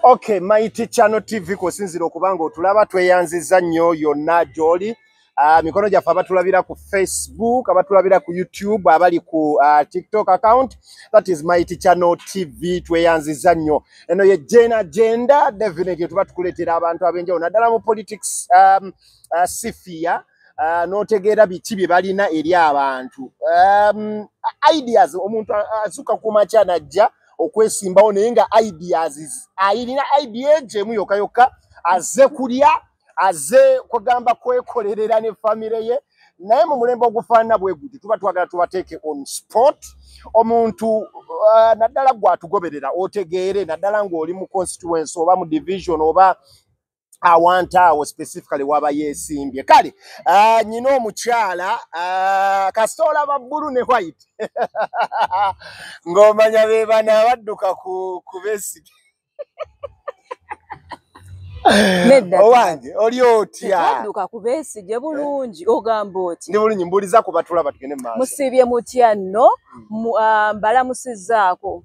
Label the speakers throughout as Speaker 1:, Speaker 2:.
Speaker 1: Okay, Mighty Channel TV kusinzira okuba nga otulaba tweyanziza nnyo yonna gy'oli. Uh, mikono gyaffe abatulabira ku Facebook, abatulabira ku YouTube, abali ku uh, TikTok account, that is Mighty Channel TV tweyanziza nnyo. Eno ye Gen Agenda, definitely tuba tukuleetera abantu ab'enjawulo naddala mu politics um, uh, sifia uh, n'otegeera biki bye balina eri abantu um, ideas omuntu azuuka ku makya najja uh, okwesimbawo naye nga ideas ayirina idea gyemu yokka yokka aze kulya aze kugamba kwekolerera ne famire ye naye mu mulembe ogufaanana bwe guti tuba twagala tubateeke on sport omuntu uh, naddala gwe atugoberera otegeere naddala ng'oli mu constituency oba mu division oba awantu awo specifically waba yesimbye kale ah, nyina omukyala ah, kasita olaba bbulu ne white ng'omanya be bana abadduka ku besige owange oli otyadduka ku besige
Speaker 2: bulungi ogamba oti ndi bulungi mbuuliza ku
Speaker 1: batulaba tugende mu maaso musiibye mutya
Speaker 2: nno hmm. ah, mbalamusizaako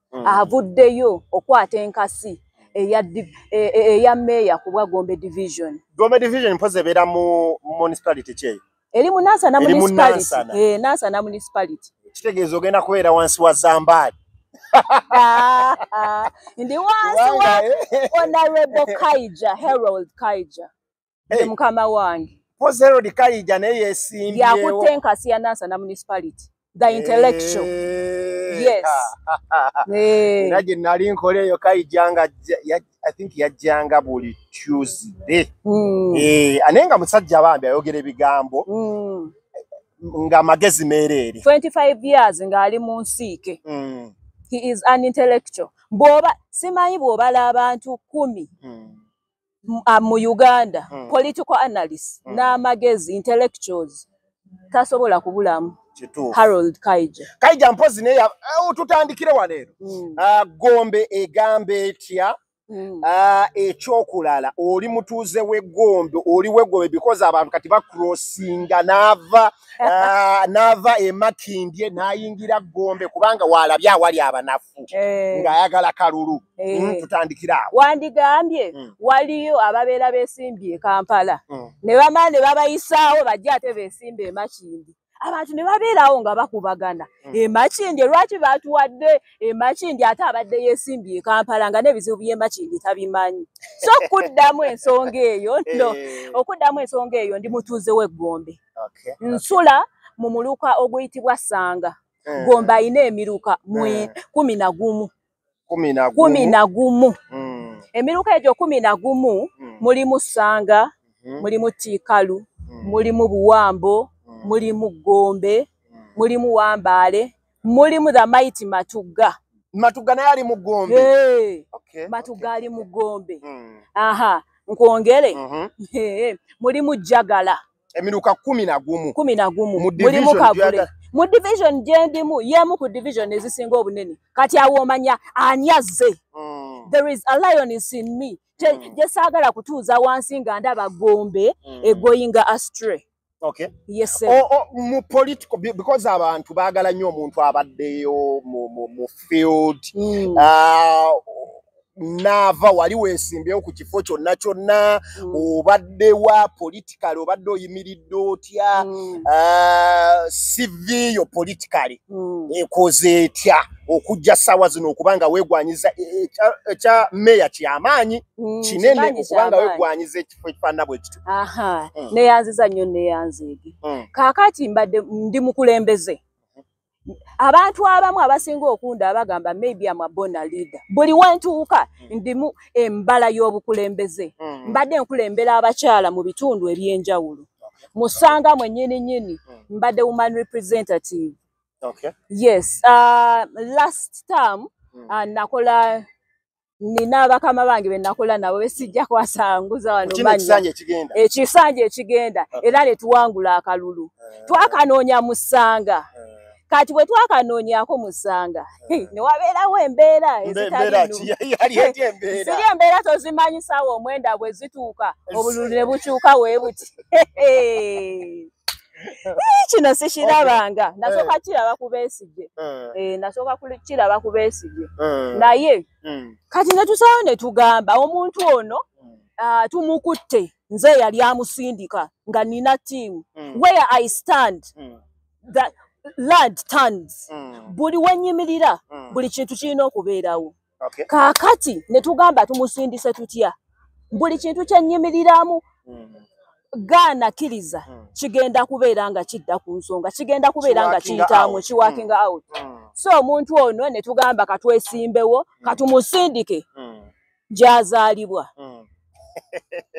Speaker 2: mm. avuddeyo okwata enkasi eya e, e, eya meeya ku bwa gombe division gombe division mpozi
Speaker 1: ebeera mu municipality kyeyo eri mu nansana
Speaker 2: municipality eh, nansana municipality kitegeeza ogenda kubeera
Speaker 1: wansi wa zambaali ah,
Speaker 2: ah. ndi wansi wa eh. honorable kaija herold kaija hey. mukama wange pozerod kayija
Speaker 1: naye yesimbye yakutte enkasi ya
Speaker 2: nansa na municipality the eh, intellectual hey. yes eh.
Speaker 1: era gye nali nkola eyo kayija nga i think yajjanga buli tuesday mm. eh, anaye nga musajja bambi ayogera ebigambo mm. nga magezi meereere 25 years
Speaker 2: ng'ali mu nsiike mm. he is an intellectual bwoba simanyi bw'obala abantu kumi mm. ah, mu uganda mm. political analyst mm. n'amagezi intellectuals tasobola kubulamu harold kaija kaija mpozi naye
Speaker 1: eh, tutandikire waleero mm. uh, gombe egamba etya Mm. Ah, ekyokulala oli mutuuze wegombe oli wegombe because abantu kati bacrossinga naava ah, n'ava emakindye n'ayingira gombe kubanga waalabye awali abanafu eh. ng'ayagala kalulu eh. hmm, tutandikira awo wandigambye hmm.
Speaker 2: waliyo ababeera beesimbye e kampala hmm. ne bamala ne babayisaawo bajje ate beesimba emakindi abantu ne babeerawo nga bakubagana hmm. emakindi lwaki batuwadde emakindi ate abadde yesimbye ekampala nga n'ebizibu byemakindi tabimanyi so okuddamu ensonga eyo no eh. okuddamu ensonga eyo ndi mutuuze w'eggombe okay. nsula mu muluka oguyitibwa sanga mm. gomba ayina emiruka mwe mm. kumi na gumu kumi na gumu mm. emiruka egyo kumi na gumu mm. mulimu sanga mm -hmm. mulimu tikalu mm. mulimu buwambo mm. mulimu gombe mm. mulimu wambaale mulimu the mighty matugga matugga naye ali
Speaker 1: mu gombe hey. okay, matugga okay. ali
Speaker 2: mu gombe mm. aha nkwongere mm -hmm. hey. mulimu jagala emiruka kumi
Speaker 1: na gumu kumi na gumu mulimu
Speaker 2: kagule mu division gyendimu yemu ku division ezisinga obunene kati awo omanya ani azze mm. there is a lion is in me gyesaagala mm. kutuuza wansi nga ndaba gombe mm. egoyinga astray Okay. Yes,
Speaker 1: sir. O, o,
Speaker 2: mu political,
Speaker 1: because abantu bagala nyo omuntu abaddeyo mu, mu, mu field. Mm. Uh, naava wali weesimbyewo ku kifo kyonna kyonna mm. obadde wa politikali obadde oyimiridde otya mm. ah, sivi yo politikali mm. ekoze etya okujja ssaawa zino okuba nga weegwanyiza e, e, ekya meeya kyamaanyi kinene okuba nga weegwanyiza ekifo ekifaanana bwe kityo aha mm. neyanziza
Speaker 2: nnyo neyanzeege mm. kaakati mbadde ndi mukulembeze abantu abamu abasinga okunda abagamba maybe am a bona leader buli wentuuka hmm. ndimu embala y'obukulembeze hmm. mbadde nkulembera abakyala mu bitundu eby'enjawulo musanga mwe nyini nyini hmm. mbadde woman representative okay. yes uh, last
Speaker 1: term
Speaker 2: uh, nakola nina bakama bange benakola nabo besijja kwasanguza wano manya
Speaker 1: ekisanja
Speaker 2: ekigenda ah. era netuwangula akalulu ah. twakanoonya musanga ah. kati bwe twakanoonyako musanga newabeerawo embeera ezitaziri embeera tozimanyisaawo omwenda bwe zituuka obululu ne bukyuka weebuti Eh, kino sikirabanga eh. nasooka kiraba ku besigye eh. nasooka kiraba ku besigye naye hmm. kati netusawo netugamba omuntu ono hmm. ah, tumukutte nze yali amusindika nga nina tiimu hmm. where i stand the land turns buli wenyimirira buli kintu kirina okubeerawo okay. kakati netugamba tumusindise tutya buli kintu kyenyimiliramu mm. gaana kiriza mm. kigenda kubeera nga kidda ku nsonga kigenda kubeera nga kiyitamu kiwakinga mm. out mm. so omuntu ono netugamba katwesimbewo mm. katumusindike mm. gyazaalibwa mm.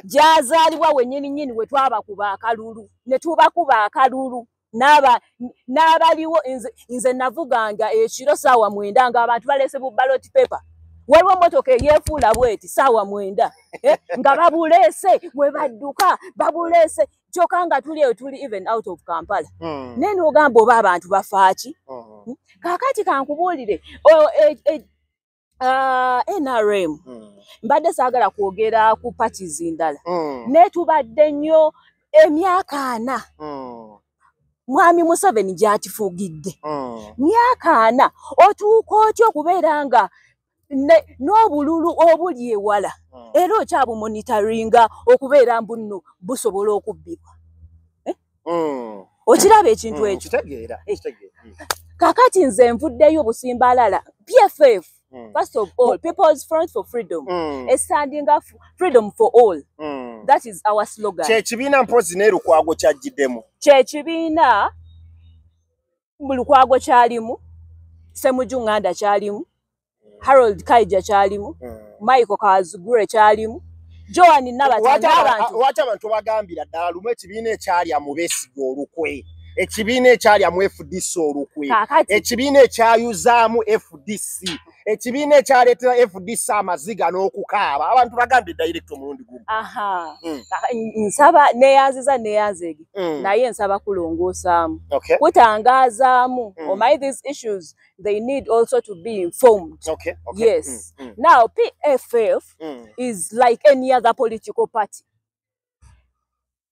Speaker 2: gyazaalibwa wenyini nyini wetwabakuba akalulu netubakuba akalulu naba nabaliwo nze nze navuganga ekiro sawa mwenda nga abantu balese bu ballot paper waliwo motoka eyefuula bweti sawa mwenda eh? nga babulese mwe badduka babulese kyoka nga tuli eyo tuli even out of kampala mm. naye nogamba oba abantu bafaaki mm. kakati kankubuulire e, e, Ah, nrm hmm. mbadde saagala kwogera ku patis ndala hmm. naye tubadde nnyo emyaka ana hmm. mwami museveni gyakifugidde myaka ana otuuka otya okubeera nga n'obululu obuli ewala era okyabumonitaringa okubeera mbunno busobola okubbibwa mm. okiraba ekintu mm, ekyo eh. mm. kakati nze nvuddeyo obusimbalala pff mm. first of all people's front for freedom mm. estanding up freedom for all mm. that is our slogan kyekibiina mpozi
Speaker 1: nelukwago kyajjidemu kyekibiina
Speaker 2: lukwago kyalimu semuju nganda kyalimu harold kaija kyalimu hmm. michael kazugure kyalimu joan nabatanwaki abantu bagambira
Speaker 1: ddala lumu ekibiina ekyalya mu besiga olukwe ekibiina ekyalya mu fdc olukwe ekibiina ekyayuzaamu fdc ekibiina ekyaleetera fdc amaziga n'okukaaba abantu bagambye direct omulundi gumu hmm. nsaba
Speaker 2: neyanziza neyanzege hmm. naye nsaba kulongoosaamu kutangaazaamu hmm. omai oh, these issues they need also to be informed yes now pff is like any other political party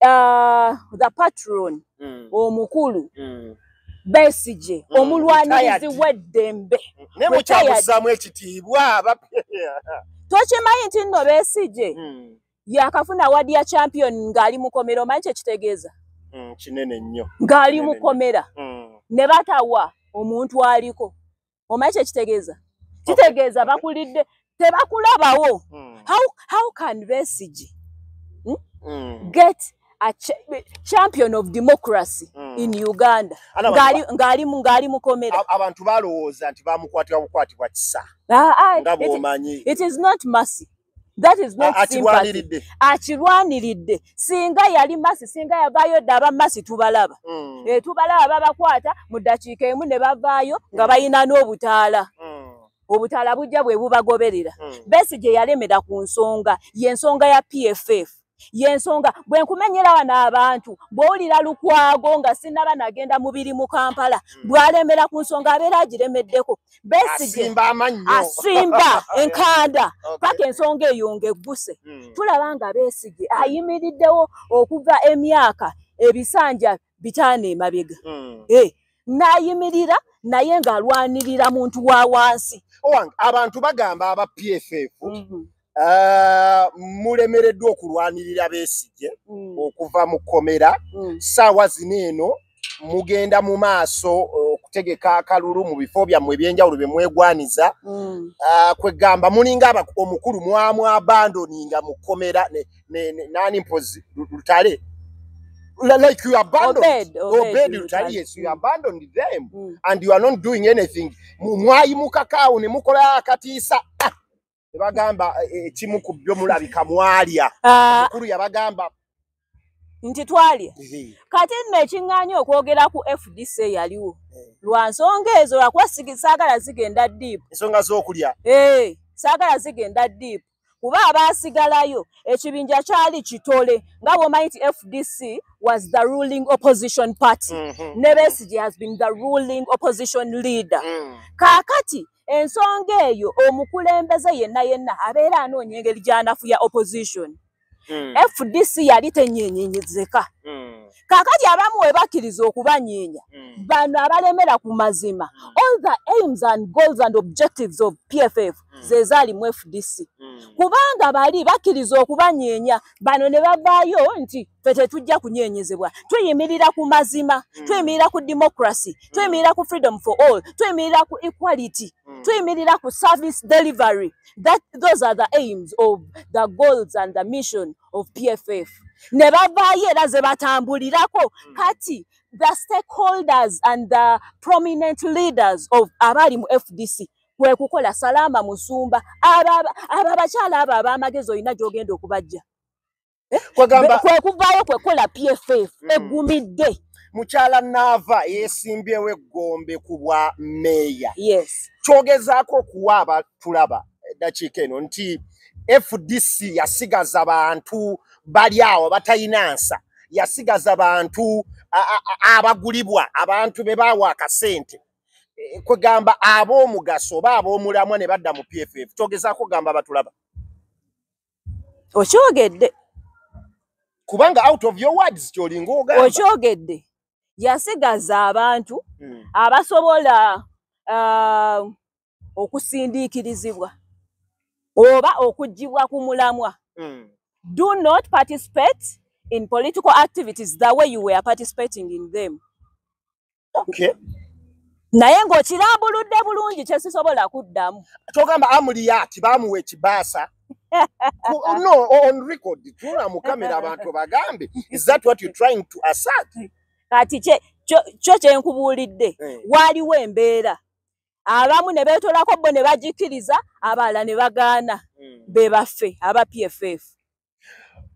Speaker 2: uh, the patron mm. omukulu mm. besije mm. omulwanirizi weddembe naye mukyabuzaamu ekitiibwa tokimanyi nti nno besije mm. yakafuna wadi ya champion ng'ali mukomera omanyi kyekitegeeza mm, kinene
Speaker 1: nnyo ng'ali mukomera
Speaker 2: mm. ne batawa omuntu aliko omanyi kyekitegeeza kitegeeza bakulidde tebakulabawo hmm. how, how can besigi hmm? hmm. get a ch champion of democracy hmm. in uganda ngaali mukomera abantu balowooza
Speaker 1: nti bamukwatira bukwatibwa kisa ah, ah, nga bwomanyi it is not mercy
Speaker 2: that is not sympathy akirwaniridde singa yali masi singa yavaayo dda abamasi tubalaba mm. e, tubalaba babakwata mu ddakiika emu ne bavaayo nga mm. balina n'obutaala mm. obutaala bujja bwe bubagoberera mm. besi gye yalemera ku nsonga y'ensonga ya pff yensonga bwe nkumenyera wano abantu bw'owulira lukwago nga sinaba nagenda mubiri mu kampala hmm. bw'alemera ku nsonga abeera agiremeddeko besige asimba enkanda paka ensonga eyo nga egguse hmm. tulaba nga besige ayimiriddewo okuva emyaka ebisanja bitaano emabega hmm. eh, n'ayimirira naye ng'alwanirira muntu wa wansi abantu
Speaker 1: bagamba aba pff mm-hmm. Uh, mulemereddwa okulwanirira besigye mm. okuva mu kkomera mm. saawa zino eno mugenda mu maaso eh, okutegeka uh, akalulu mu bifo byammwe ebyenjawulo bye mwegwaniza mm. uh, kwegamba mulinga omukulu mwamwabandoninga mu kkomera nani mpozi lutale ne, ne, like you abandoned obed, obed, obed you tell
Speaker 2: yes you abandoned
Speaker 1: them mm. and you are not doing anything mwayimuka kawo ne mukola akatiisa ah! tebagamba eh, ekimu ku byo mulabika mwalya ah. mukulu yabagamba
Speaker 2: nti twalya kati nno ekiŋŋaanya okwogera ku fdc eyaliwo eh. lwa nsonga ezo lwakuba saagala zigenda diipu ensonga z'okulya
Speaker 1: eh, saagala
Speaker 2: zigenda diipu kuba abaasigalayo ekibinja kyali kitole nga bwomanyi nti fdc was the ruling opposition party mm -hmm. ne besige has been the ruling opposition leader mm. kaakati ensonga eyo omukulembeze yenna yenna abeera anoonya engeri gyanafuya opposition hmm. fdc yali tenyenyenyezeka hmm. kakati abamu webakkiriza okubanyeenya hmm. bano abalemera ku mazima all the aims and goals and objectives of pff zezaali mu fdc kubanga bali bakkiriza okubanyeenya bano ne bavaayo nti fe tetujja kunyenyezebwa tuyimirira ku mazima mm. tuyimirira ku democracy mm. tuyimirira ku freedom for all tuyimirira ku equality mm. tuyimirira ku service delivery that those are the aims of the goals and the mission of pff ne bavaayo era ze batambulirako mm. kati the stakeholders and the prominent leaders of abali mu fdc kwe kukola salaama musumba abo abakyala abo ab'amagezi olina gy'ogenda okubajja eh, kwegamba kwekuvaayo kwekola pff mm. egumidde mukyala
Speaker 1: naava yesimbyewo eggombe ku bwa meeya yes
Speaker 2: kyogezaako okuwa
Speaker 1: abatulaba eddakiika eno nti fdc yasigaza bantu bali awo batalina nsa yasigaza bantu abagulibwa abantu be baawa akasente Eh, kwegamba ab'omugaso oba ab'omulamwa ne badda mu pff kyogezako gamba batulaba
Speaker 2: okyogedde
Speaker 1: kubanga out of your words kyolinga ogamba okyogedde
Speaker 2: yasigaza abantu hmm. abasobola uh, okusindiikirizibwa oba okugibwa ku mulamwa hmm. do not participate in political activities the way you were participating in them okay naye ng'okirambuludde bulungi kye sisobola kuddamu kyogamba amuliyati
Speaker 1: bamuwa ekibaasa no on record tula mu kamera abantu bagambe is that what you trying to assert kati
Speaker 2: kyo kye nkubuulidde eh. waaliwo embeera abamu ne beetolako bo ne bagikkiriza abalala ne bagaana hmm. be baffe aba pff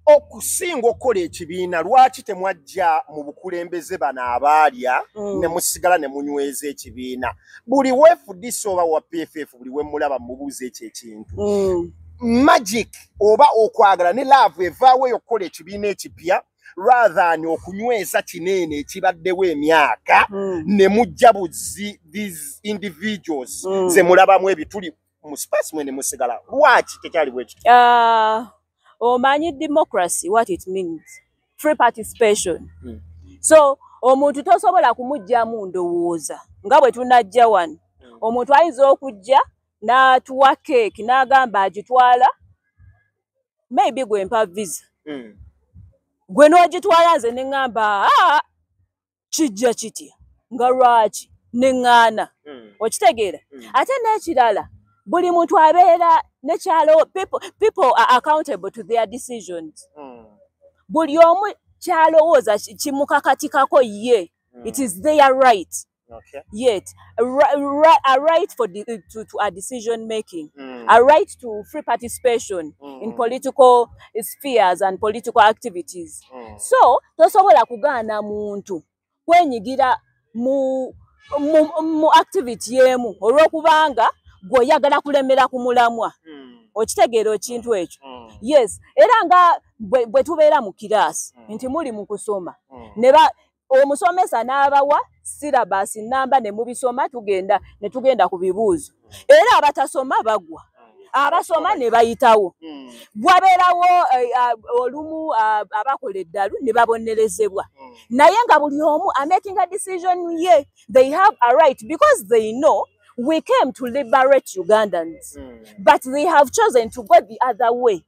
Speaker 1: okusinga okukola ekibiina lwaki temwajja mu bukulembeze bano abaalya mm. ne musigala ne munyweza ekibiina buli wefudisa oba wa pff buli wemulaba mubuuza ekyo ekintu mm. magic oba okwagala ne laavu evaawo eyo okukola ekibiina ekipya rather ni okunyweza kinene ekibaddewo emyaka mm. ne mujja buzi these individuals mm. ze mulabamu ebituli mu space mwene musigala lwaki tekyali bwekyo uh, ah, omanyi
Speaker 2: democracy what it means free participation hmm. so omuntu tosobola kumugyamu ndowooza nga bwe tunajja wano hmm. omuntu ayinza okujja n'atuwa keeki n'agamba agitwala maybe gwe mpa visa hmm. gwe n'ogitwala nze ne ŋŋamba ah, kijja kitya nga lwaki neŋŋaana hmm. okitegeera hmm. ate n'ekirala buli muntu abeera nekyalo people are accountable to their decisions hmm. buli omu kyalowooza kimukakatikako ye it is their right Okay. Yet, a, right, a right for the, to, to a decision making, mm. a right to free participation mm. in political spheres and political activities. mm. so tosobola kugaana muntu kwenyigira mu, mu, mu activity emu olwokubanga gwe oyagala kulemera ku mulamwa mm. okitegeera ekintu ekyo mm. yes era nga bwe tubeera mu kiraasi mm. nti muli mu kusoma mm. neba omusomesa n'abawa syllabus namba ne mubisoma tugenda ne tugenda ku bibuuzo era abatasoma bagwa abasoma ne bayitawo hmm. bwabeerawo eh, ah, olumu ah, abakola eddalu ne babonerezebwa hmm. naye nga buli omu amaking a decision ye they have a right because they know we came to liberate ugandans hmm. but they have chosen to go the other way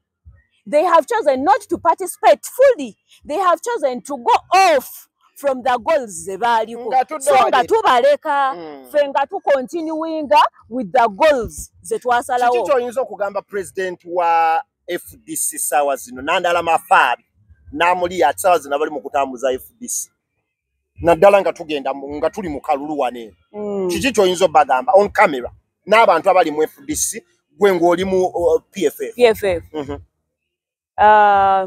Speaker 2: They have chosen not to participate fully. They have chosen to go off from the goals ze baaliko so nga tubaleka mm. fe nga tukontinuinga with the goals ze twasalawo kiki kyoyinza
Speaker 1: okugamba president wa
Speaker 2: fdc
Speaker 1: saawa zino nandala mafaabi n'amuli ati saawa zino abali mu kutambuza fdc naddala nga tugenda nga tuli mu kalulu wane mm. kiki kyoyinza obagamba on camera n'abantu abali mu fdc gwe ng'oli mu uh, pff mhm. uh,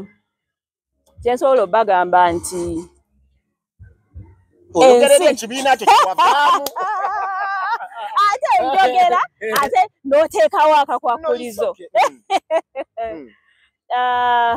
Speaker 2: kyensobola obagamba nti
Speaker 1: oyogerera ekibiina kyo kiwavaamu
Speaker 2: ate njogera ate n'oteekawo akakwakulizo mm. Mm. Uh,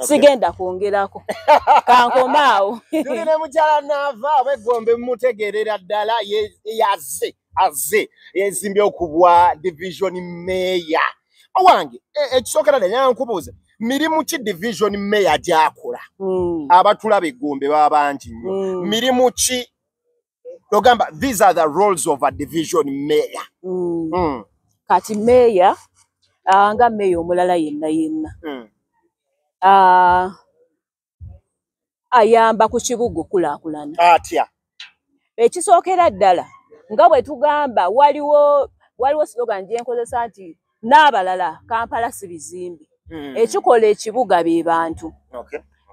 Speaker 2: sigenda kwongerako kankoma awo tuli ne mukyala
Speaker 1: naava oba eggombe mumutegeerera ddala yaze aze yezimbye okubwa division meya owange e, ekisookera e, danya nkubuuza mirimu ki division meya gyakola mm. abatulaba eggombe baba bangi nnyo mm. mirimu ki ogamba these are the roles of a division mayor mm. Mm. kati
Speaker 2: mayor uh, nga mayor omulala yenna yenna mm. uh, ayamba ku kibuga okulakulana atya
Speaker 1: ekisookera
Speaker 2: ddala nga bwe tugamba waliwo waliwo slogan gyenkozesa nti n'abalala kampala si bizimbe hmm. ekikola ekibuga be bantu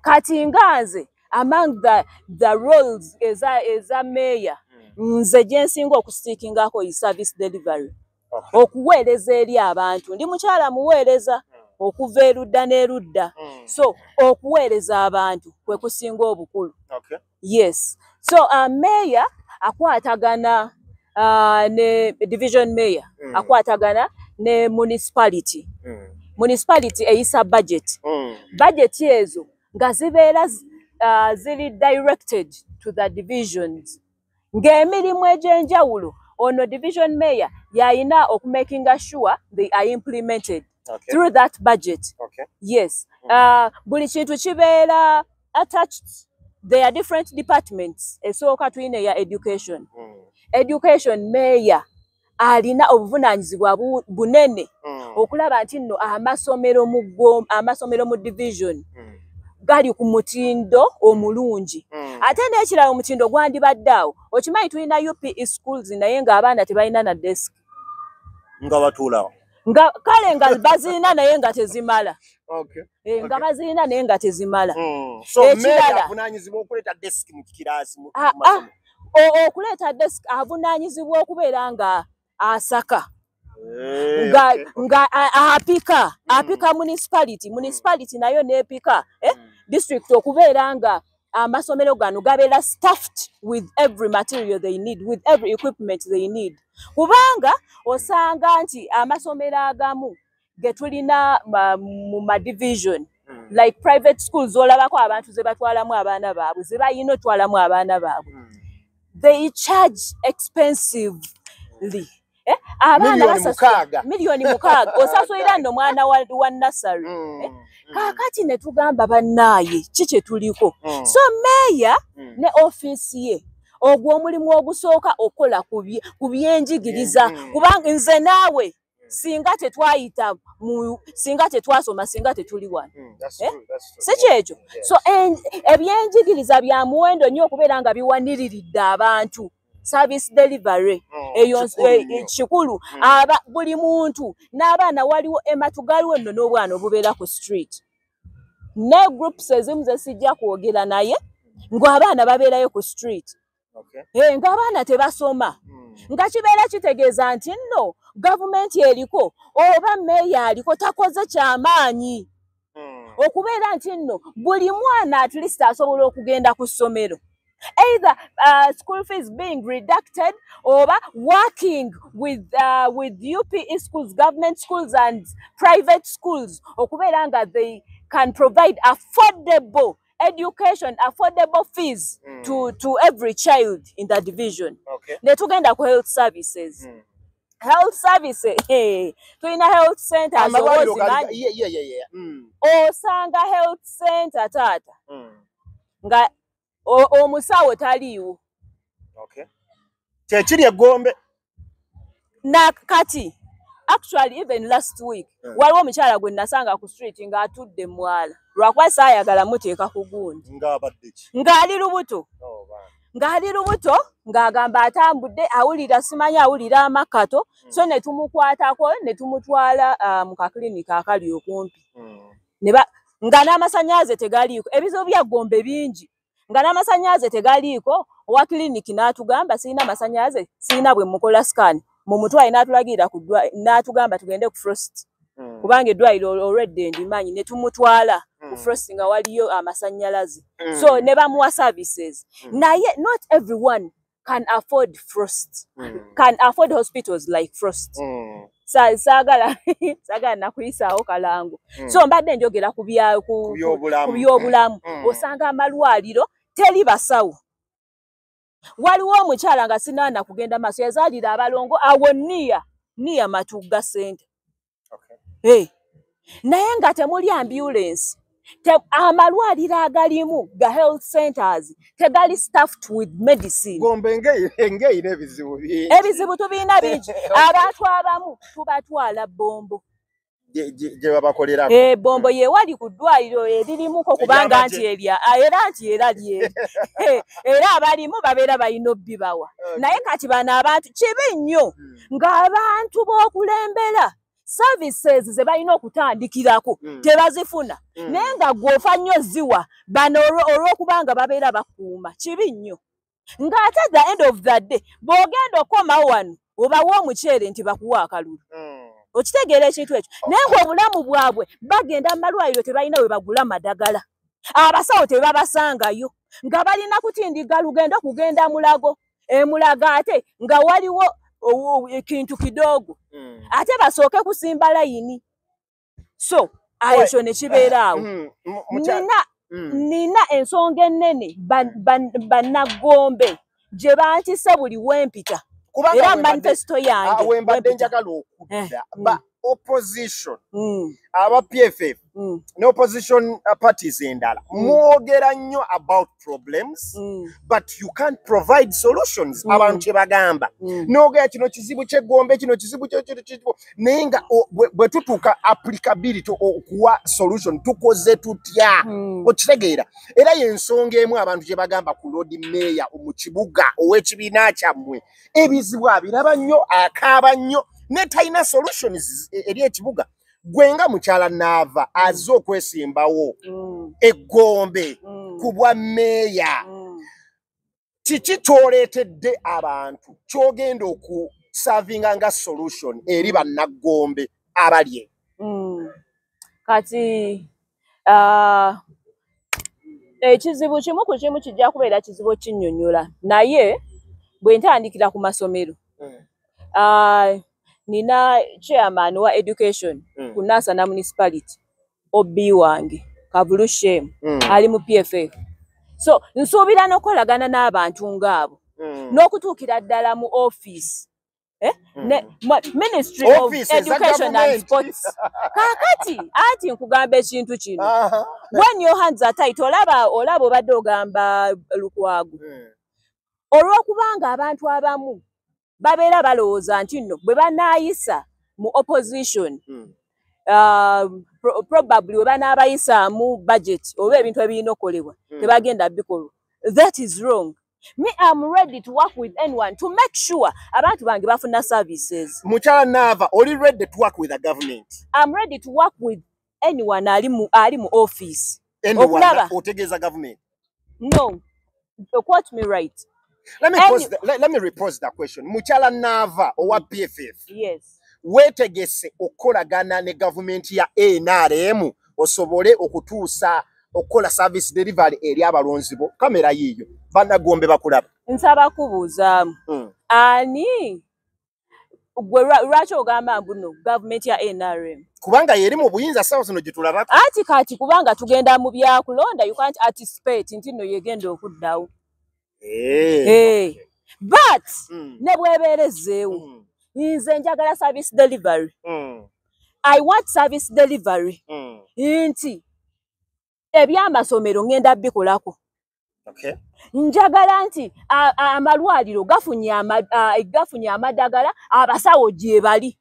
Speaker 2: kati nga nze among the, the roles eza, eza meeya hmm. nze gye nsinga okusiikingako yi service delivery okuweereza eri abantu ndi mukyala muweereza hmm. okuva erudda n'erudda so okuweereza abantu kwe kusinga obukulu yes so uh, mayor akwatagana uh, ne division mayor mm. akwatagana ne municipality mm. municipality eyisa budget mm. budget ezo nga zibeera uh, ziri directed to the divisions ng'emirimu egy'enjawulo ono division mayor yalina okumakinga sure they are implemented okay. through that budget okay. yes mm. uh, buli kintu kibeera attached they are different departments esooka tulina eya education mm. education mayor alina obuvunaanyizibwa bunene mm. okulaba nti nno amasomero mu amasomero mu division mm. gali ku mutindo omulungi mm. ate n'ekirala omutindo gwandibadde awo okimanyi tulina upe schools naye ng'abaana tebalina na desk nga
Speaker 1: batuulawo nga kale nga
Speaker 2: bazirina naye nga tezimala eh, nga bazirina naye nga tezimala hmm.
Speaker 1: ekiralaokuleeta
Speaker 2: ah, ah. desk avunanyizibwa okubeera nga asaka eh, nga apika hmm. apika municipality municipality nayo nepika eh, hmm. district okubeera nga amasomero gano gabeera staffed with every material they need with every equipment they need kubanga osanga nti amasomero agamu getulina mu madivision hmm. like private school zolabako abantu zebatwalamu abaana baabwe zebayina otwalamu abaana baabwe hmm. they charge expensively eh, abaana basasula miliyoni mukaaga osasulira no mwana wa, wa nasary mm. eh, mm. kakati ne tugamba bannaaye ki kye tuliko mm. so meeya mm. ne ofiisi ye ogwo omulimu ogusooka okukola ku byenjigiriza mm. mm. kubanga nze naawe singa tetwayita mu singa tetwasoma singa tetuli wano hmm, eh? si kyekyo so ebyenjigiriza bya muwendo nnyo okubeera nga biwaniriridde abantu service delivery oh, eyo eh, kikulu hmm. aba buli muntu n'abaana waliwo ematugali wenno n'obwana obubeera ku street ne groups ezimu zesijja kwogera naye ng'abaana babeerayo ku street eh, ng'abaana tebasoma hmm. nga kibeera kitegeeza nti nno gavumenti eriko oba meeya aliko takoze kyamaanyi hmm. okubeera nti nno buli mwana at least asobola okugenda ku ssomero either uh, school fees being reducted oba working with, uh, with upe schools government schools and private schools okubeera nga they can provide affordable education affordable fees mm. to, to every child in the division okay. netugenda ku health services mm. health services hey, tulina health center mm. osanga health center taata mm. nga omusawo taliiwo okay.
Speaker 1: kyekiri egombe na kati
Speaker 2: actually even last week yeah. waliwo omukyala gwe nasanga ku street nga atudde mwala lwakuba saayagala muteeka ku gundi ng'ali lubuto oh, ng'ali lubuto ng'agamba atambudde awulira simanyi awulira amakato mm. so ne tumukwatako ne tumutwala uh, mu kaklinika akali okumpi mm. nga n'amasanyaze tegaliiko ebizibu bya gombe bingi nga n'amasannyalaze tegaliiko owa kiriniki n'atugamba sirina masannyalaze sirina bwe mukola sikaani mu mutwaye n'atulagirira n'atugamba tugende ku frost hmm. kubanga eddwaliro olwedde ndimanyi ne tumutwala ku hmm. frost nga waliyo amasannyalaze hmm. so ne bamuwa services naye not everyone can afford frost mm. can afford hospitals like frost mm. sa sagala sagala nakuyisawo kalango mm. so mbadde njogera ku bya ku byobulamu mm. osanga amalwaliro teli basawo waliwo omukyala nga sinaana kugenda maaso yazaalira abalongo awo niya niya matugga sente naye nga temuli ambulance amalwaliro agalimu ga health centers tegali staffed with medicine
Speaker 1: ebizibu
Speaker 2: tubirina bingi abantu abamu tubatwala bombo
Speaker 1: gyebabakolera eh, bombo yewali ku
Speaker 2: ddwaliro eririmuko kubanga nti erya ah, era nti era lye eh, era abalimu babeera balina obbibawa eh. naye kati bano abantu kibi nnyo hmm. ng'abantu b'okulembera services ze balina okutandikirako mm. tebazifuna mm. naye nga gwofa nnyo ziwa bano olw'okubanga babeera bakuuma kibi nnyo ng'ate the end of the day bw'ogenda okoma wano obawa omuceere nti bakuwa akalulu mm. okitegeera ekintu ekyo naye ngaobulamu bwabwe bagenda mu malwaliro tebalina we bagula madagala abasawo tebabasangayo nga balina kutindiga lugendo okugenda mulago emulaga ate nga waliwo ekintu kidogo mm. ate basooke kusimba layini so ekyo nekibeeraawo mm, nina mm. nina ensonga ennene bannagombe gye bantise buli wempita era manifesito yange ah, wembadde njagala
Speaker 1: okudda eh, opposition mm. aba pff mm. ne opposition uh, parties endala mm. mwogera nnyo about problems mm. but you can't provide solutions mm. abantu kyebagamba mm. nogera kino kizibu kyegombe kino kizibu kyekitbo naye nga bwe tutuuka applicability okuwa solution tukoze tutya mm. okitegeera era yensonga emu abantu kyebagamba ku lord mayor mu kibuga ow'ekibiina kyammwe ebizibu abiraba nnyo akaaba nnyo ne talina solutions e, eri ekibuga gwe nga mukyala naava aze okwesimbawo mm. eggombe mm. ku bwa meeya mm. kiki kyoleetedde abantu kyogenda okusavinga nga solution eri bannaggombe abalye kati
Speaker 2: uh, ekizibu kimu ku kimu kijja kubeera kizibu okinyonyola naye bwe ntandikira ku masomero mm. uh, nina chairman wa education mm. ku nasana municipality ob wange kavulu shem mm. ali mu pff so nsuubira n'okukolagana n'abantu ng'abo mm. n'okutuukira ddala mu office eh? mm. ne, ma, ministry of education and sports kakati ati nkugamba ekintu kino uh -huh. when your hands are tight olaba olaba obadde ogamba lukwagu mm. olwokubanga abantu abamu babeera balowooza nti nno bwe banaayisa mu opposition mm. uh, pro probably we banaabayisaamu budget oba ebintu ebirina okolebwa mm. tebagenda bikolwa that is wrong me am ready to work with anyone to make sure abantu bange bafuna services mukyala nava
Speaker 1: oli ready to work with the government am ready to work
Speaker 2: with anyone ali mu ali mu office okulaba
Speaker 1: otegeeza government no
Speaker 2: quote me right let me, Any... pose
Speaker 1: the, let, let me repose the question mukyala nava owa pff yes
Speaker 2: wetegese
Speaker 1: okukolagana ne gavumenti ya nrm osobole okutuusa okukola service delivery eri abalonzi bo kamera yiiyo banagombe bakulaba nsaba kubuuzaamu
Speaker 2: hmm. ani gwe lwaki ogamba mbuno gavumenti ya nrm kubanga yeri mu
Speaker 1: buyinza sawa zino gyetulabako ati kati kubanga
Speaker 2: tugenda mu byakulonda you can't anticipate nti no yegenda okuddawo Eh. Eh. but Mm. ne bwebeera ezzeewo Mm. nze njagala service delivery Mm. i want service delivery Mm. nti ebyamasomero ngenda bikolako Okay. njagala nti a- a- amalwaliro gafunye ama- a- gafunye amadagala abasawo gyebali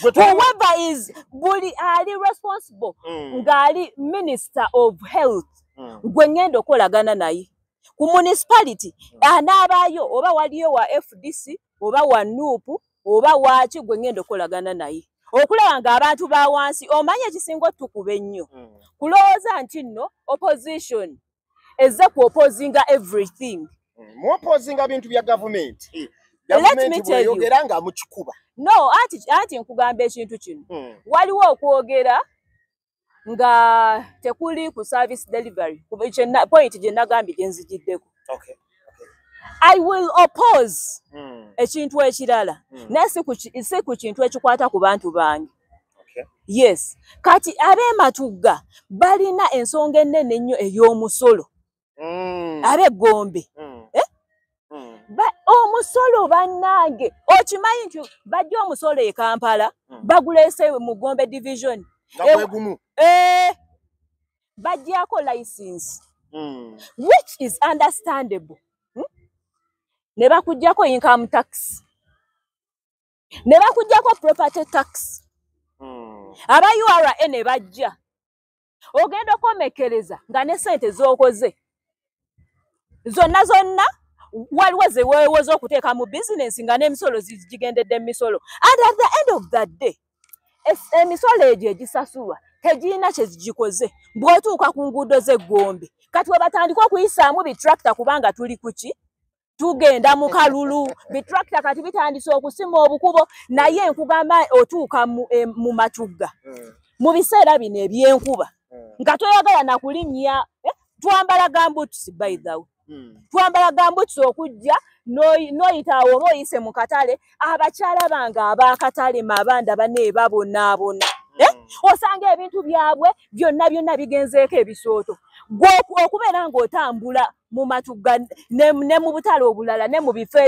Speaker 2: whoever is buli ali responsible mm. ngaali minister of health mm. gwe ngenda okolagana naye ku municipality mm. anaabaayo oba waliyo wa fdc oba wa nup oba waaki gwe ngenda okolagana naye okulaba nga abantu ba wansi omanya ekisinga otukuba ennyo kulowooza nti nno opposition eze ku opposinga everything mm, mu opposinga
Speaker 1: bintu bya gavumenti eh,
Speaker 2: gavumentieyogera nga mukikuba
Speaker 1: no anti
Speaker 2: anti nkugamba ekintu kino mm. waliwo okwogera nga tekuli ku service delivery point gye nagambye gye nzigiddeko okay.
Speaker 1: I
Speaker 2: will oppose hmm. ekintu ekirala hmm. naye si ku kintu ekikwata ku bantu bange yes kati abematugga balina ensonga ennene ennyo ey'omusolo mm. abegombe mm. eh? mm. omusolo bannange okimanyi nti bajja omusolo e kampala mm. bagulese mu gombe division egumu e, eh, bajjako license mm. which is understandable hmm? ne bakujjako income tax ne bakujjako property tax hmm. aba ura ne bajja ogenda okomekereza nga ne sente zokoze zonna zonna waliwo zewewoza okuteeka mu bizinensi nga n'emisolo zigigendedde mu misolo and at the end of the day emisolo egyo egisasulwa tegirina kyezigikoze bwotuuka ku nguudo z'eggombe kati webatandika okuyisaamu bitracta kubanga tuli kuki tugenda mu kalulu bitrakita kati bitandise okusima obukubo naye nkugamba otuuka mu eh, matugga hmm. mu biseera bino ebyenkuba hmm. nga toyagala nakulinnya eh, twambala gambutusi by the way hmm. twambala gambutusi okujja noyitaawo oba oyise mu katale abakyala bange abakatale mabanda bane babonaabona eh, osanga ebintu byabwe byonna byonna bigenzeeko ebisooto gwokubeera ng'otambula mu matu ne, ne mu butale obulala ne mu bifo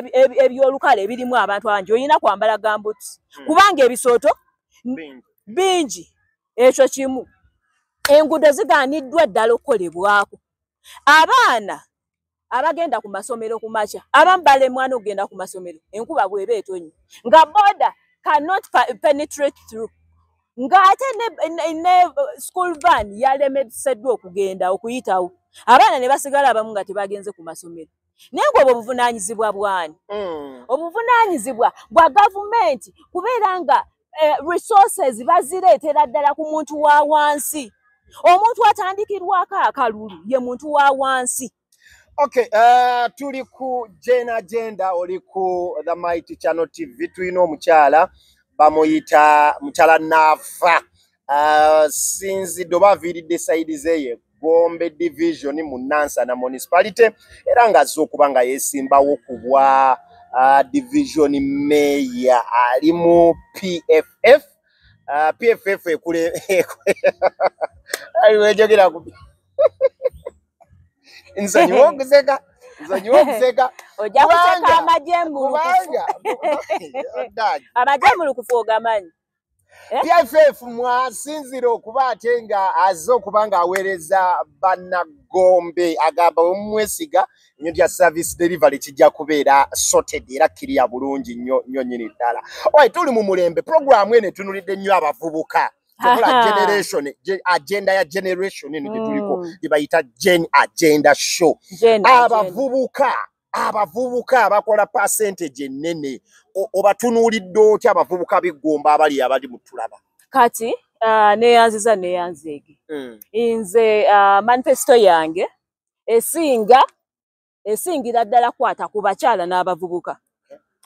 Speaker 2: ebyolukale ebirimu abantu abangi olina kwambala gambuti hmm. kubanga ebisooto bingi ekyo kimu enguudo zigaaniddwa ddala okukolebwako abaana abagenda ku masomero ku makya abamu balemwana okugenda ku masomero enkuba bweba etonyi nga boda cannot penetrate through ng'ate ne school van yalemeseddwa okugenda okuyitawo abaana ne basigala abamu nga tebagenze ku masomero naye ng'obwo obuvunaanyizibwa bwani hmm. obuvunaanyizibwa bwa gavumenti kubeera nga eh, resources bazireetera ddala ku muntu wa wansi omuntu atandikirwako akalulu ye muntu wa wansi Okay,
Speaker 1: uh, tuli ku Jane Agenda oli ku The Mighty Channel TV tulina omukyala bamuyita mukyala Nafa uh, sinzi doba aviiridde saidi zeye Gombe Division mu Nansana Municipality era nga azze okuba nga yesimbawo ku bwa uh, Division Mayor ali mu PFF uh, PFF ekule ekule aliwejogera ku nsonyiwa okuseka nsonyiwa okuseka
Speaker 2: ojja kuseka amajembulukubanga amajembulukufu ogamanyi Eh? pff
Speaker 1: mwasinzira okuba ate nga aze okuba ng'aweereza bannagombe agamba omumwesiga nyo lya service delivery kijja kubeera sorted era kiriya bulungi nyo nyo nyini ddala owaye tuli mu mulembe puroguramu eno etunulidde nnyo abavubuka tekola generation agenda ya generation eno gyetuliko mm. gyebayita gen agenda show abavubuka abavubuka abakola percentage ennene obatunuulidde otya abavubuka biggomba abali abali mutulaba kati uh,
Speaker 2: neyanziza neyanzeege mm. nze uh, manifesto yange esinga esingira ddala kwata ku bakyala n'abavubuka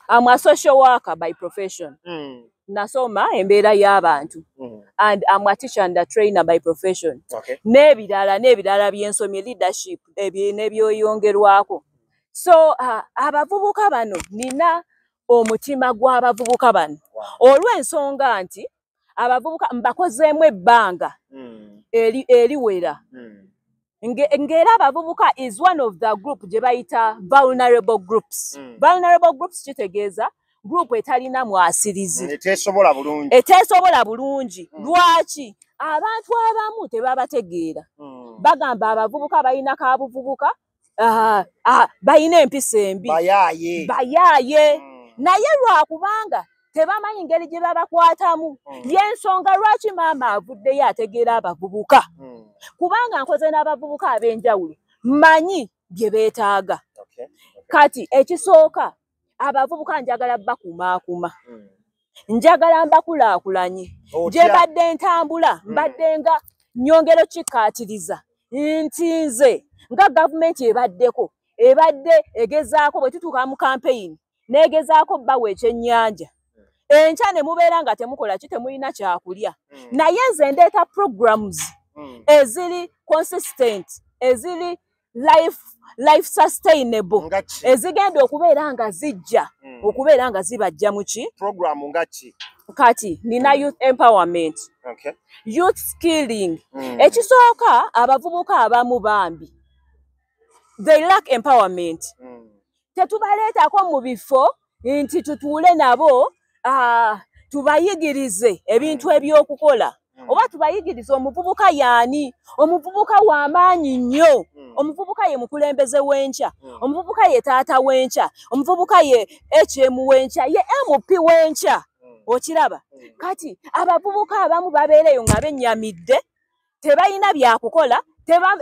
Speaker 2: am a social worker by profession mm. nasoma embeera y'abantu mm. and am a teacher and a trainer by profession okay. n'ebirala n'ebirala byensomye leadership n'ebyoyongerwako so uh, abavubuka bano nina omutima gw'abavubuka bano olw'ensonga nti abavubuka mbakozeemu ebbanga hmm. eriwera hmm. ng'era abavubuka is one of the group gye bayita vulnerable groups hmm. vulnerable groups kitegeeza group etalina mwasirizi eteesobola bulungi eteesobola bulungi lwaki abantu abamu tebabategeera bagamba abavubuka balina kabuvubuka Ah, ah, balina empisa embi bayaaye bayaaye mm. naye lwakubanga tebamanyi ngeri gye babakwatamu mm. yensonga lwaki maama avuddeyo ategeera abavubuka mm. kubanga nkoze n'abavubuka ab'enjawulo manyi bye beetaaga okay. okay. kati ekisooka abavubuka njagala bakumaakuma hmm. njagala mbakulaakulanye gye mbadde ntambula hmm. mbadde nga nyongero kikkaatiriza nti nze nga gavumenti ebaddeko ebadde egezaako bwe tutuuka mu kampeyini n'egezaako bbawa ekyennyanja hmm. enkya ne mubeera nga temukola ki temulina kyakulya naye nze ndeeta programs eziri consistent eziri life life sustainable ezigenda okubeera nga zijja hmm. okubeera nga zibajja muki program ngaki
Speaker 1: kati nina
Speaker 2: hmm. youth empowerment okay. youth skilling mm. ekisooka abavubuka abamu bambi they lack empowerment mm. tetubaleetako mu bifo nti tutuule nabo ah, tubayigirize ebintu ebyokukola hmm. oba tubayigirize omuvubuka yaani omuvubuka wamaanyi nnyo hmm. omuvubuka ye mukulembeze wenkya hmm. omuvubuka ye taata wenkya omuvubuka ye hm wenkya ye mp wenkya okiraba kati abavubuka abamu babeereyo nga benyamidde tebalina byakukola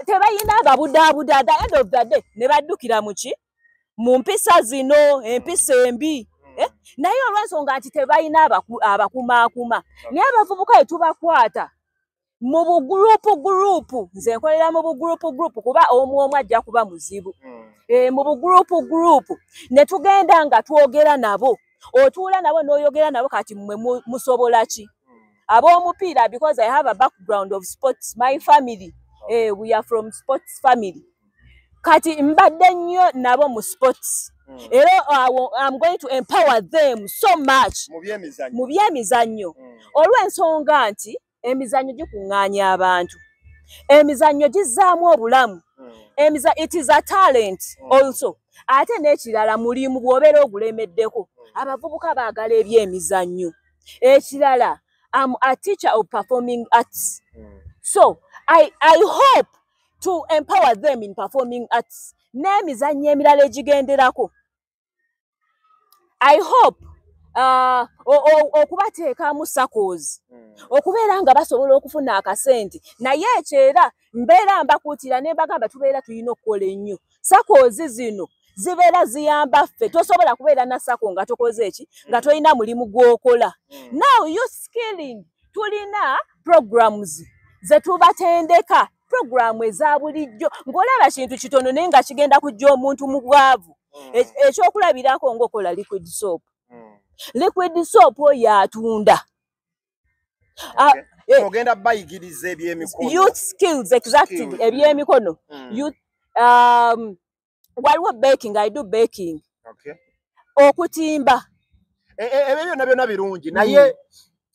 Speaker 2: tebalina babudaabuda the end of the day ne baddukira muki mu mpisa zino empisa embi eh? naye olwensonga nti tebalina abakumaakuma naye abavubuka etubakwata mu bugurupu gurupu nze nkolera mu bugurupu gurupu kuba omu omu ajja kuba muzibu hmm. eh, mu bugurupu gurupu ne tugenda nga twogera nabo otuula nabo n'oyogera nabo kati mwe musobola ki ab'omupiira because i have a background of sports my family eh, we are from sports family kati mbadde nnyo nabo mu sports hmm. era am going to empower them so much mu byemizannyo hmm. olw'ensonga nti emizannyo gikuŋŋaanya abantu emizannyo gizzaamu obulamu hmm. emiza it is a talent hmm. also ate n'ekirala mulimu bw'obeera ogulemeddeko hmm. abavubuka baagala ebyemizannyo ekirala am a teacher of performing arts so i, I hope to empower them in performing arts n'emizannyo emirala egigenderako i hope uh, okubateekamu sacos hmm. okubeera nga basobola okufuna akasente naye ekyo era mbeera mbakuutira ne mbagamba tubeera tulina okukola ennyo sacos zino zibeera ziyamba ffe tosobola kubeera na sako nga tokoze eki nga tolina mulimu gw'okola hmm. now you skilling tulina programs zetubatendeka puroguramu eza bulijjo ng'olaba kintu kitono naye nga kigenda kujja omuntu mu bwavu mm. e, ekyokulabirako ngaokola liquid soap mm. liquid soap oyo atunda
Speaker 1: eh, ogenda bayigiriza ebyemikono youth skills
Speaker 2: exactly ebyemikono mm. youth um, waliwo baking i do baking okay. okutimba e,
Speaker 1: e, ebyo byonna byonna birungi mm. naye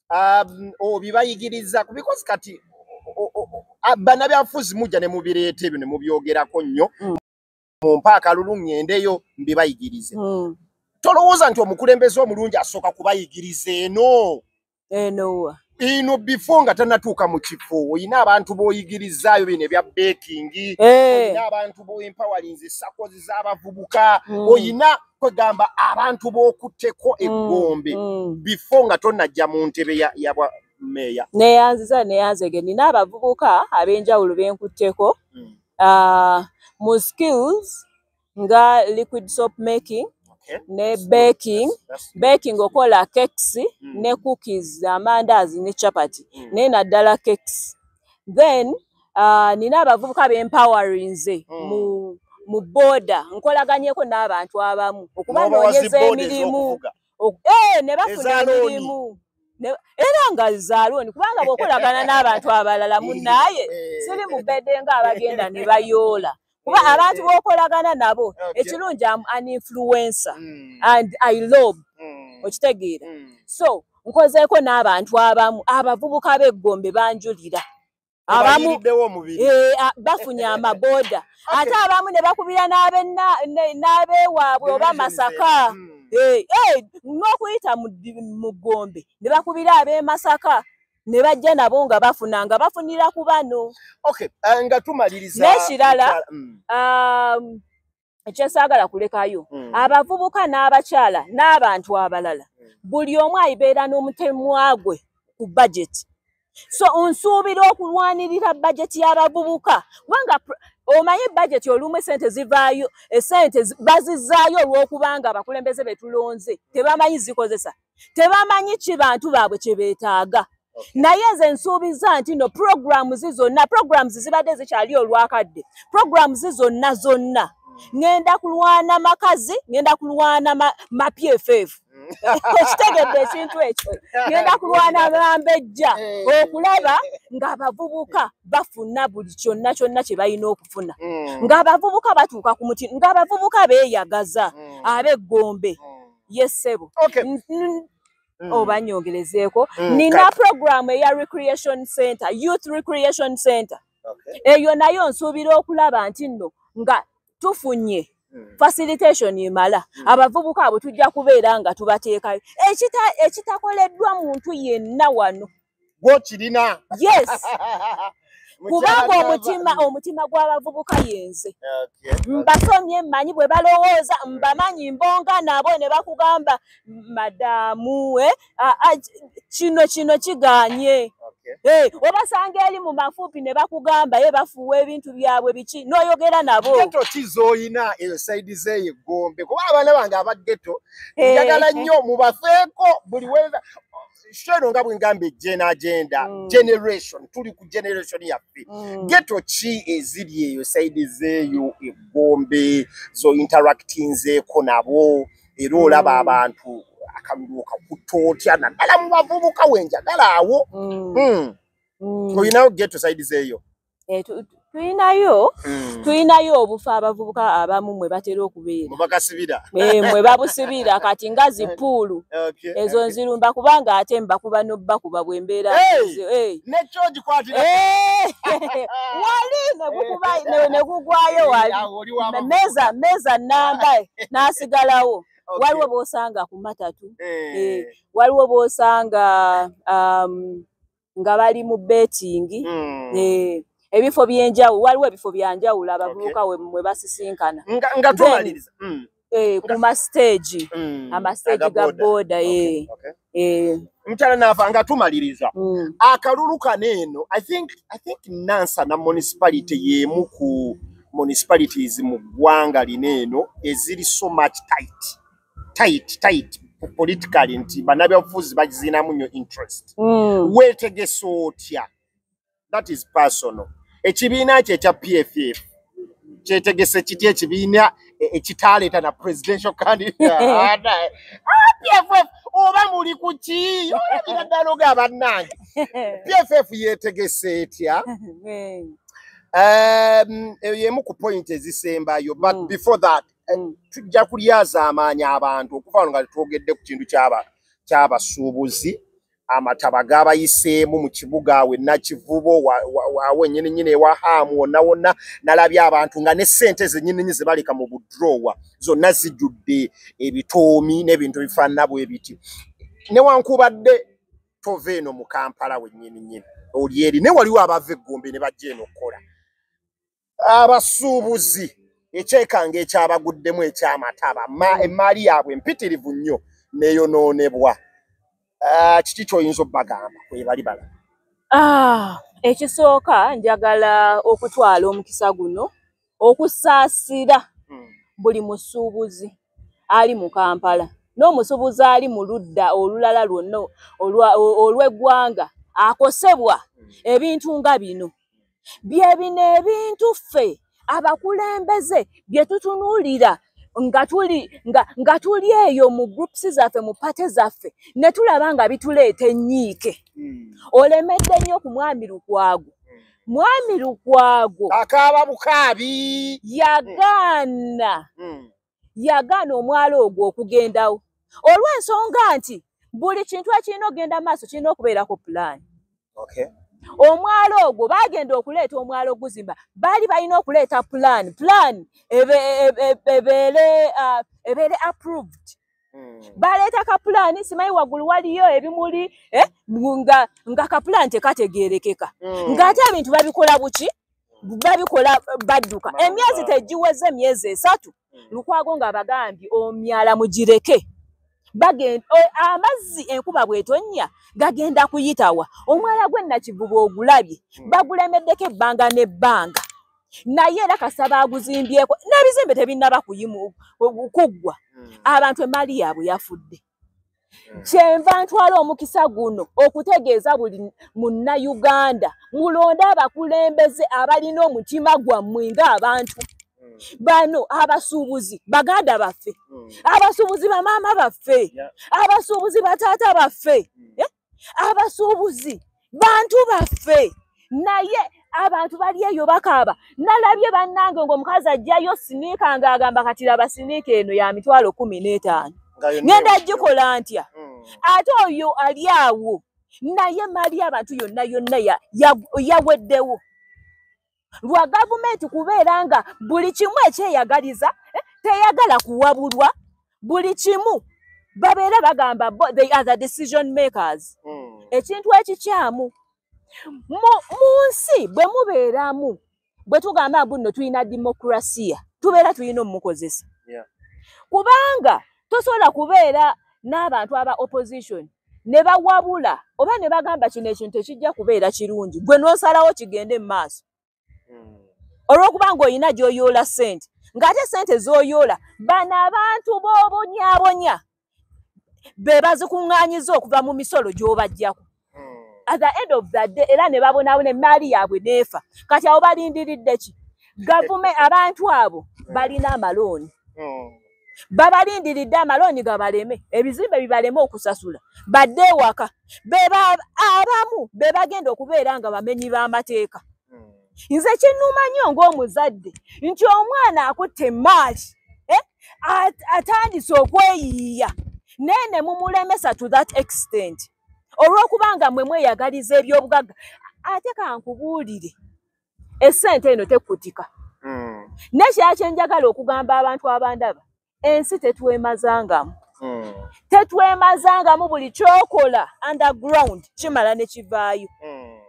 Speaker 1: um, obibayigiriza kubikozi kati banabyafuzi mujja ne mubireeta ebyo ne mubyogerako nnyo mm. mu mpaaka lulu ŋŋendeyo mbibayigirize mm. tolowooza nti omukulembeze omulungi asooka kubayigiriza eno enowa ino before nga tanatuuka mu kifo olina abantu b'oyigirizaayo bino ebya bekingi eh. olina abantu b'oempowerinzi sakozi z'abavubuka mm. olina kwegamba abantu b'okutteko mm, eggombe mm. before nga tonajja mu ntebe yabwa meeya neyanziza neyanzege
Speaker 2: nina abavubuka ab'enjawulo benkutteko ah, mu skills nga liquid soap making okay. ne baking baking okola cakes mm. ne cookies amandazi ne chapati mm. naye naddala cakes then uh, nina abavubuka bempawarinze mm. mu mu boda nkolaganyeko n'abantu abamu okuba noonyeza emirimu eh, ne bafuna emirimu era nga zaaloni kubanga bwokolagana n'abantu abalala munaye eh. siri mubedde nga abagenda ne bayoola kuba mm, abantu mm. bokolagana nabo ekirungi am an influencer mm. and i lob okitegeera so nkozeeko n'abantu abamu abavubuka b'eggombe banjulira abamu eh, bafunye amabooda ate abamu ne bakubira n'abewaabwe oba masaka eh, eh, n'okuyita mu ggombe ne bakubira ab'emasaka ne bajja nabo nga bafuna nga bafunira ku bano okay, uh, nga
Speaker 1: tumaliriza nekirala
Speaker 2: mm. um, kyesaagala kulekayo mm. abavubuka n'abakyala n'abantu abalala mm. buli omu ayibeera n'omutemwa gwe ku bajeti so nsuubira okulwanirira bajeti y'abavubuka kubanga omanyi bajeti olumu esente zivaayo esente bazizaayo olw'okubanga abakulembeze betulonze tebamanyi zikozesa mm. tebamanyi ki bantu baabwe kye beetaaga naye nze nsuubiza nti no programu zi zonna programu zibadde zikyali olwakadde programu zi zonna zonna ŋenda kulwana makazi ŋenda kulwana mapyefeevu ekitegedde ekintu ekyo ŋenda kulwana bambejja okulaba ng'abavubuka bafuna buli kyonna kyonna kye balina okufuna mm. ng'abavubuka batuuka ku muti ng'abavubuka beeyagaza mm. ab'eggombe mm. ye ssebo okay. Mm. oba nyongerezeeko mm, nina program eya recreation center youth recreation center okay. eyo nayo nsuubira okulaba nti nno nga tufunye mm. facilitation emala mm. abavubuka abo tujja kubeera nga tubateekayo ekitakoleddwa ekita muntu yenna wano gwokirina
Speaker 1: yes
Speaker 2: kubanga omutima omutima gw'abavubuka yenze mbasomye mmanyi bwe balowooza mbamanyi mbonga nabo ne bakugamba madamu we kino kino kiganye eh, obasanga eri mu mafuupi ne bakugamba ye bafuuwa ebintu byabwe biki n'oyogera nabo geto ki z'olina
Speaker 1: eyo saidi zeeyo eggombe kuba abaana bange abageto eh. njagala nnyo mubafeeko buli weza sho eno nga bwengamba ejena agenda mm. generation tuli ku generation yaffe mm. geto ki eziri eyo saidi zeeyo egombe zo interactinzeeko nabo era olaba mm. abantu akalulu kakuta otya naddala mu bavubuka wenjagala awo mm. mm. mm. oyinawo geto saidi zeeyo eh, tulinayo hmm. tulinayo obufa abavubuka abamu mwe batera okubeera eh, mwe babusibira kati nga zipuulu ezo nzirumba kubanga ate mbakuba nobakuba bwembeera wali negugwayo wali meza meza namba nasigalawo waliwo bosanga ku matatu eh. Eh, waliwo bosanga um, nga bali mu betting mm. eh, ebifo byenjawulo waliwo ebifo byanjawulo abavubuka okay. mwe basisinkana nga, nga tumaliriza mm. eh, ku
Speaker 2: mastage mm. amastage ga boda okay. eh. okay. eh.
Speaker 1: mutala nava nga tumaliriza mm. akalulu kano eno i think, I think nansa na municipality yemu ku municipalities mu ggwanga lino eno eziri so much tight tight tight politically nti banabyabufuzi bakiziinamu nyo interest mm. wetegesa otya that is personal ekibiina kye ekya pff kyetegese kiti ekibiina e, ekitaleeta na presidential candidate ah, pff oba muli kuki olabira ddala oga bannange pff yetegese etya um, emu ku point ezisembayo but mm. before that Eh, mm. tujja kulyazaamaanya abantu okuva wano nga tetwogedde ku kintu kyabasuubuzi amataba gabayiseemu mu kibuga awe nakivubo awo enyininyini ewa haamu wonna wonna nalabye abantu nga ne ssente zenyininyi zebaleka mu budrowa zonna zijjudde ebitoomi n'ebintu bifaanana bwe biti newankubadde tova eno mu kampala wennyininyini oli eri naye waliwo abava eggombe ne bajja eno okukola abasuubuzi ekyekanga ekyabaguddemu ekyamataba emmaali yaabwe empitirivu nnyo neyonoonebwa ah, kiki kyoyinza obbagamba kwebali bala ah, ekisooka
Speaker 2: njagala okutwala omukisa guno okusaasira hmm. buli musuubuzi ali mu kampala n'omusuubuzi ali mu ludda olulala lwonna olw'eggwanga akosebwa hmm. ebintu nga bino bye bino ebintu ffe abakulembeze bye tutunuulira nga tuli nga, nga tuli eyo mu groups zaffe mu pate zaffe ne tulaba nga bituleeta ennyiike hmm. olemedde nnyo ku mwami lukwago hmm. mwami lukwago
Speaker 1: akaaba bukaabi yagaana hmm.
Speaker 2: yagaana omwalo ogwo okugendawo olw'ensonga nti buli kintu ekirina okugenda maaso kirina okubeerako pulaani okay. omwalo ogwo bagenda okuleeta omwalo oguzimba baali balina okuleeta pulaani pulaani ebeere uh, ebeere approved hmm. baleeta kapulaani simanyi waggulu waliyo ebimuli eh, nga kapulaani tekategeerekeka hmm. ng'ate ebintu babikola buki babikola badduka emyezi tegiweze emyezi esatu hmm. lukwago nga bagambye omyala mugireke bagenda amazzi enkuba bwetonnya gagenda kuyitawa omwala gwe nakivuba ogulabye hmm. bagulemeddeko ebbanga n'ebbanga naye era kasaba aguzimbyeko n'ebizimbe tebinnaba kuyimu kuggwa hmm. abantu emaali yaabwe yafudde kyenva ntwala omukisa guno okutegeeza buli munnayuganda mulonde abakulembeze abalina omutima gwammwe ng'abantu hmm. bano abasuubuzi baganda baffe hmm. abasuubuzi bamaama baffe abasuubuzi bataata baffe hmm. eh? abasuubuzi bantu baffe naye abantu bali eyo bakaaba nalabye bannange ngaomukazi ajjayo siniika ngaagamba kati laba siniika eno ya mitwalo kumi n'etaano ngenda gikola ntya hmm. ate oyo ali awo naye mali abantu yonna yonna yaweddewo lwa gavumenti kubeera nga buli kimu ekyeyagaliza eh, teyagala kuwabulwa buli kimu babeera bagamba they are the decision makers hmm. ekintu ekikyamu mu nsi bwe mubeeramu bwe tugamba mbu nno tulina demokrasiya tubeera tulina omumukozesa kubanga tosobola kubeera n'abantu aba opposition ne bawabula oba ne bagamba kino ekintu tekijja kubeera kirungi gwe n'osalawo kigende mu maaso hmm. olw'okuba ng'olina gy'oyoola ssente ng'ate ssente z'oyoola bano abantu b'obonyabonya be bazikuŋŋaanyiza okuva mu misolo gy'obajjako hmm. at the end of the day era ne babonaabona emmaali yaabwe n'efa kati awo balindiridde ki gavume abantu abo balina amalooni hmm. babalindiridde amalooni gabaleme ebizimbe bibaleme okusasula badde ewaka beba abamu be bagenda okubeera nga bamenyi b'amateeka hmm. nze kinnuma nnyo ng'omuzadde nti omwana akutte emaali eh, atandise okweyiiya naye ne mumulemesa to that extent olw'okuba nga mwe mweyagaliza eby'obugagga ate kankubuulire esente eno tekutika mm. nekyakyenjagala okugamba abantu abandaba ensi tetwemazangamu mm. tetwemazangamu buli kyokola underground kimala nekivaayo mm.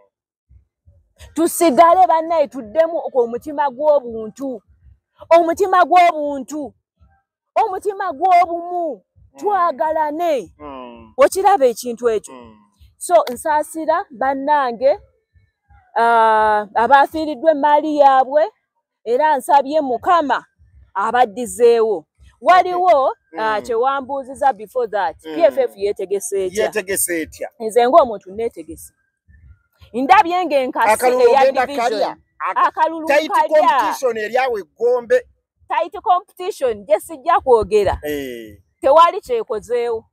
Speaker 2: tusigale banaye tuddemu omutima gw'obuntu omutima gw'obuntu omutima gw'obumu mm. twagalane mm. okiraba ekintu ekyo mm. so nsaasira bannange uh, abaafiiriddwa emmaali yaabwe era nsabye mukama abaddizeewo waliwo mm. ah, kyewambuuziza before that mm. pff yetegeseyetegese etya nze ngaomuntu netegese ndabye nga enkasi eya division akalulu kalya eryawo eggombe tight competition gye sijja kwogera eh. tewali kyekozeewo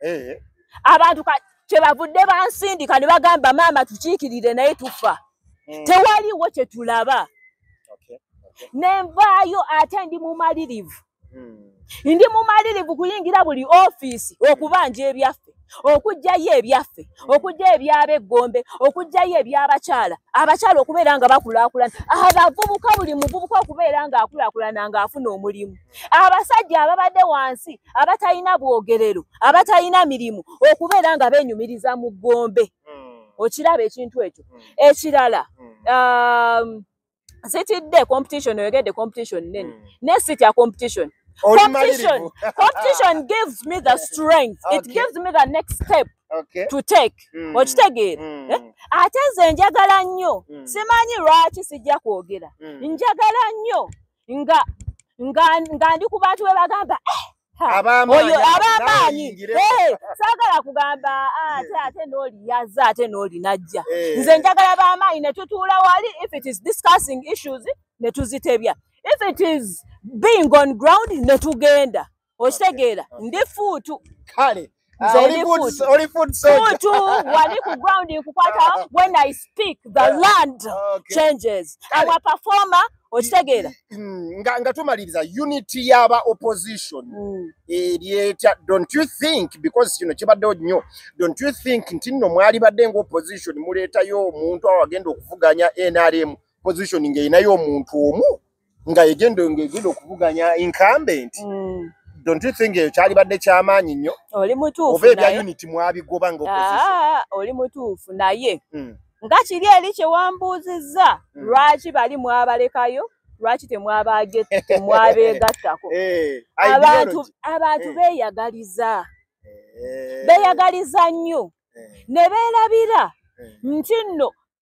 Speaker 2: eh. abantu kyebavudde bansindika ne bagamba maama tukiikirire naye tufa hmm. tewaliwo kye tulaba ne nvaayo ate ndi mumalirivu hmm. ndi mumalirivu kuyingira buli ofiisi okubanja ebyaffe okugyayo ebyaffe okugyayo ebyaba eggombe okugyayo ebyabakyala abakyala okubeera nga bakulakulana abavubuka buli muvubuka okubeera nga akulakulana ngaafuna omulimu abasajja ababadde wansi abatalina bwogerero abatalina mirimu okubeera nga benyumiriza mu ggombe hmm. okiraba ekintu ekyo hmm. ekirala hmm. um, sitidde competition oyogedde competition nene mm. naye sitya competition competition competition gives me the strength okay. it gives me the next step okay. to take mm. okitegeera mm. eh? ate nze njagala nnyo mm. simanyi lwaki sijja kwogera mm. njagala nnyo nga nga nga ndi ku bantu bebagamba eh, abamaanyi eh, saagala kugamba ah, ate ate n'oliyaza ate n'olinajja eh. nze njagala bamaanyi ne tutuula wali if it is discussing issues ne tuzitebya if it is being on ground ne tugenda okitegeera ndi fuutu kale Ah, oli eri food- food. oli food soldier. Futu wali ku ground nkukwata when I speak the Yeah. land Okay. changes. Kale. Our performer okitegeera. Mm, nga, nga
Speaker 1: tumaliriza unity y'aba opposition Mm. eri etya don't you think because kino kibaddewo nnyo don't you think nti nno mwalibadde nga opposition muleetayo omuntu awagenda okuvuganya nrm position ng'erinayo omuntu omu nga egenda ng'egenda okuvuganya incumbent mm. don't you think ekyo kyalibadde kyamaanyi nnyo oli mutuufu oba ebya
Speaker 2: unit
Speaker 1: mwabigoba nga ah, oli mutuufu
Speaker 2: naye mm. nga kiri eri kyewambuuzizza mm. lwaki bali mwabalekayo lwaki temwabeegattako eh, abantu eh. beeyagaliza eh. beeyagaliza nnyo ne beerabira nti nno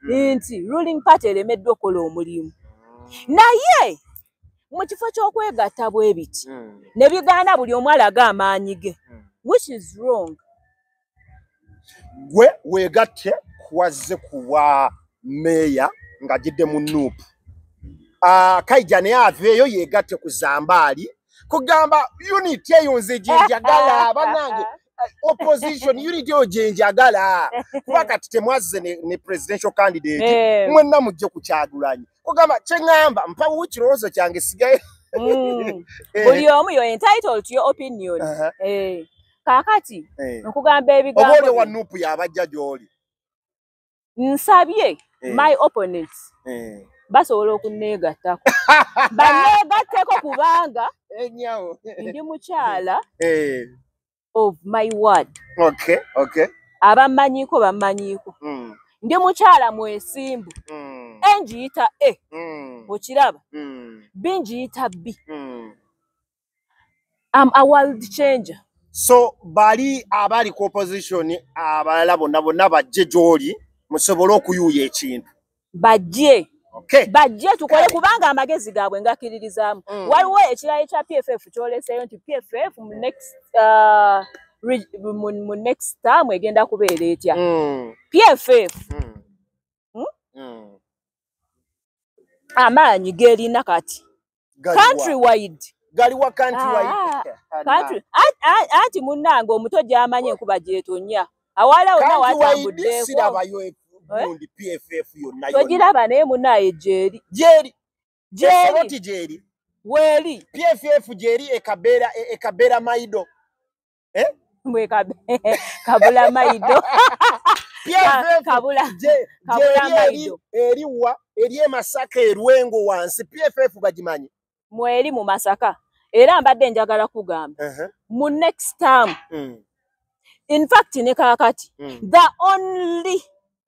Speaker 2: hmm. nti ruling party eremeddwa okola omulimu hmm. naye mu kifo ky'okwegatta bwe biti hmm. ne bigaana buli omu alaga amaanyi ge which is wrong
Speaker 1: gwe weegatte kuwazze kuwa meeya ng'agidde mu nuupu ah, kaija naye aveeyo yeegatte ku zambaali kugamba unit eyo nze gyenjagala banange opposition unity yo gyenjagala kuba kati temwazze ne, ne presidential candidate Eh. mwenna mujje ku kyagulanyi kugamba kyeŋŋamba mpawo kirowoozo kyange sigaye Mm.
Speaker 2: Eh, buli omu yo entitled to your opinion aha, Eh. kakati eh. nkugamba oba oli ebigambo wa nupu yabajja
Speaker 1: gy'oli nsabye
Speaker 2: eh. my opponents eh. basobola okunneegattako banneegatteko kubanga ndi mukyala eh. of my word okay, okay.
Speaker 1: abammanyiiko
Speaker 2: bammanyiiko mm. ndi mukyala mwesimbu mm. engiyita e mm. okiraba mm. bingiyita bi mm. am a world changer so bali
Speaker 1: abali ku opposition abalala bonna bonna bajje gyoli musobole okuyuuya ekintu bajje
Speaker 2: okay. bajje
Speaker 1: tukole
Speaker 2: kubanga amagezi gaabwe ngakiririzaamu mm. waliwo ekirala ekya pff kyoleseeyo nti pff mu next uh, mu next term egenda kubeera etya mm. pff mm. Hmm? Mm. amaanyi gerina kati country wide galiwa
Speaker 1: country wide ah, ah, country ati
Speaker 2: munange omuto gyamanye enkuba gyetonya awala wona watambuddeeko sirabayo
Speaker 1: egundi eh? pff yonna togiraba naye munaye
Speaker 2: gyeri gyeri gyeri gyeri weeri pff gyeri
Speaker 1: ekabeera ekabeera maido Eh? Mwe kabe
Speaker 2: kabula maido. PFF kabula je kabula
Speaker 1: maido. Eriwa eri emasaka erwengo wansi PFF bajimanyi. Mwe eri mu
Speaker 2: masaka. Era mbadde njagala kugamba. Uh -huh. Mu next term. Mm. In fact ne kakati. Mm. The only